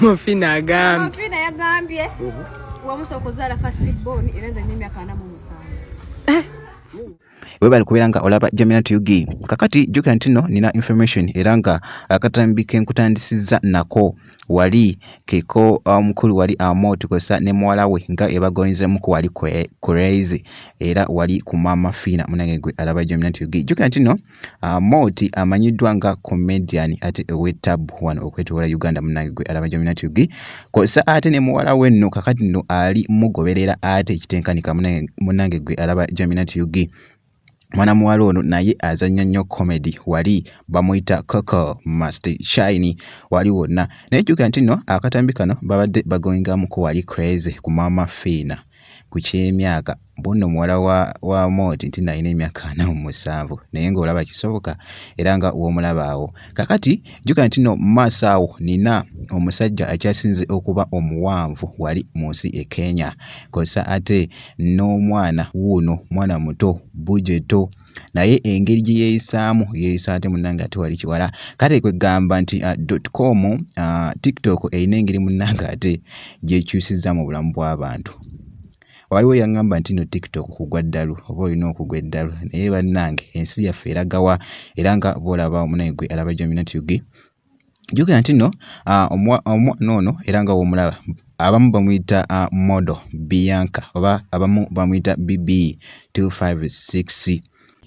Mufina agambye. Mufina yagambye. Mhm. Wamusa okuzala first born era zenye myaka na mu musango. Eh. webale kubeera nga olaba jamina tug kakati jukira nti no nina information era nga akatambi kenkutandisizza nako wali keko omukulu um, wali amo tukozesa ne muwala we nga ebagoyinzemuku wali crazy era wali ku maama fiina munange gwe alaba jamina tug jukira nti no Ah, Moti amanyiddwa nga comedian ate ow'ettabbu wano okwetoola Uganda munnange gwe alaba Jomina TV kw'ossa ate ne muwala we nno kakati nno ali mugoberera ate ekitenkanika munnange gwe alaba Jomina TV mwana muwala ono naye azannya nnyo comedy wali bamuyita coco must shine wali wonna naye jjukira nti nno akatambi kano babadde bagoingamuko wali crazy ku maama fiina ku ky'emyaka bunno muwala wa, wa mooti nti nalina emyaka ana mu musanvu naye ng'olaba kisoboka era nga w'omulaba awo kakati jjuka nti no maaso awo nina omusajja akyasinze okuba omuwanvu wali mu nsi e kenya kosa ate n'omwana wuuno mwana muto bujeto naye engeri gye yeeyisaamu yeeyisa ate munnange ate wali kiwala kale kwe gamba nti uh, dot com uh, tiktok erina engeri munnange ate gyekyusiza mu bulamu bw'abantu waliwo yaŋŋamba nti no tiktok kugwa ddalu oba olina okugwa eddalu naye bannange ensi yaffe eragawa era nga boolaba omunaye gwe alaba jominatug jjukira nti nno ah, omwana ono era nga womulaba abamu bamuyita ah, modo bianca oba abamu bamuyita bb 256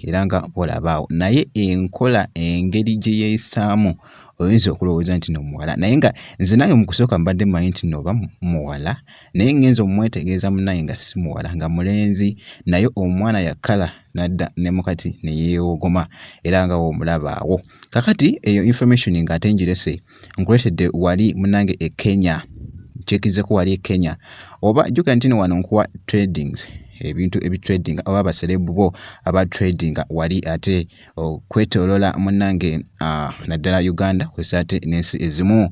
era nga olabaawo naye enkola engeri gye yeeyisaamu oyinza okulowooza nti no muwala naye nga nze nange mu kusooka mbadde manyi nti nooba muwala naye ngenza omumwetegeeza munaye nga si muwala nga mulenzi naye omwana yakala nadda ne mukati ne yeewogoma era nga woomulabaawo kakati eyo information nga ate njirese nkuletedde wali munange e Kenya checkizeko wali e Kenya oba jukira ntino wano nkuwa tradings ebintu ebitrading oba abaserebu bo aba trading wali ate okwetolola munange naddala Uganda kwesa ate n'ensi ezimu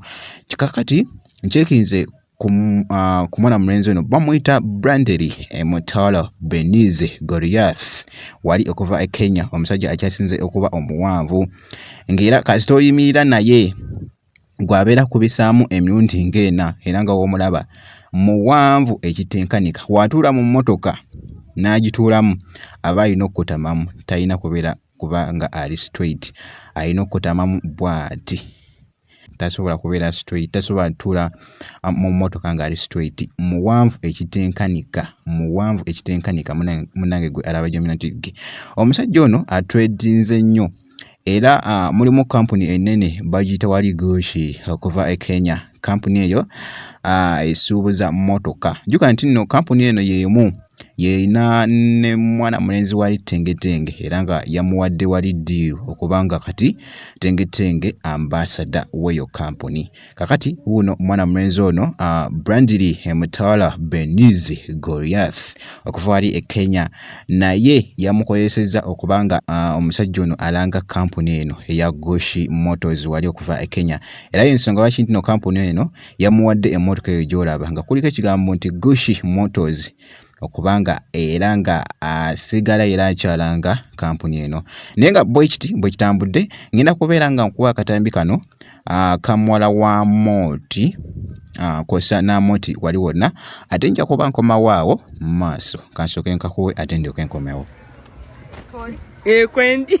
kikakati nkyekinze ku mwana mulenzi ono bamuyita brandely eh, mutalo benize goriath wali okuva e kenya omusajja akyasinze okuba omuwanvu ngaera kasita oyimirira naye gwabeera kubisaamu emirundi ngaena era nga womulaba muwanvu ekitenkanika watuula mu mmotoka n'agituulamu aba alina okukutamamu talina kubeera kuba nga ali straight alina okukutamamu bwati tasobola kubeera straight tasobola tula ah, mu motoka nga ali straight muwanvu ekitenkanika muwanvu ekitenkanika munange gwe alaba jomina nti omusajja ono atredinze nnyo era uh, mulimu kampuni enene bagiyita wali gushi okuva e kenya kampuni eyo uh, esuubuza motoka juka nti nno kampuni eno yemu yeyina ne mwana mulenzi wali tengetenge era nga yamuwadde wali diiru okubanga kati tenge tenge ambassador weyo company kakati wuno mwana mwenzi ono uh, ah, brandili emutawala benizi goriath okuva wali e kenya naye yamukozeseza okubanga uh, omusajja ono alanga kampuni eno eya goshi motors wali okuva e kenya era yensonga lwaki ntino kampuni eno yamuwadde emotoka eyo gyolaba nga kuliko ekigambo nti goshi motors okuba nga era nga asigala era akyalanga kampuni eno naye nga bwekiti bwekitambudde ngenda kubeera nga nkuwa akatambi kano akamuwala wa mooti kosa namoti wali wonna ate nja kuba nkomawaawo mu maaso kansooke nkakuwe ate ndyoke nkomewo ekwendi eh,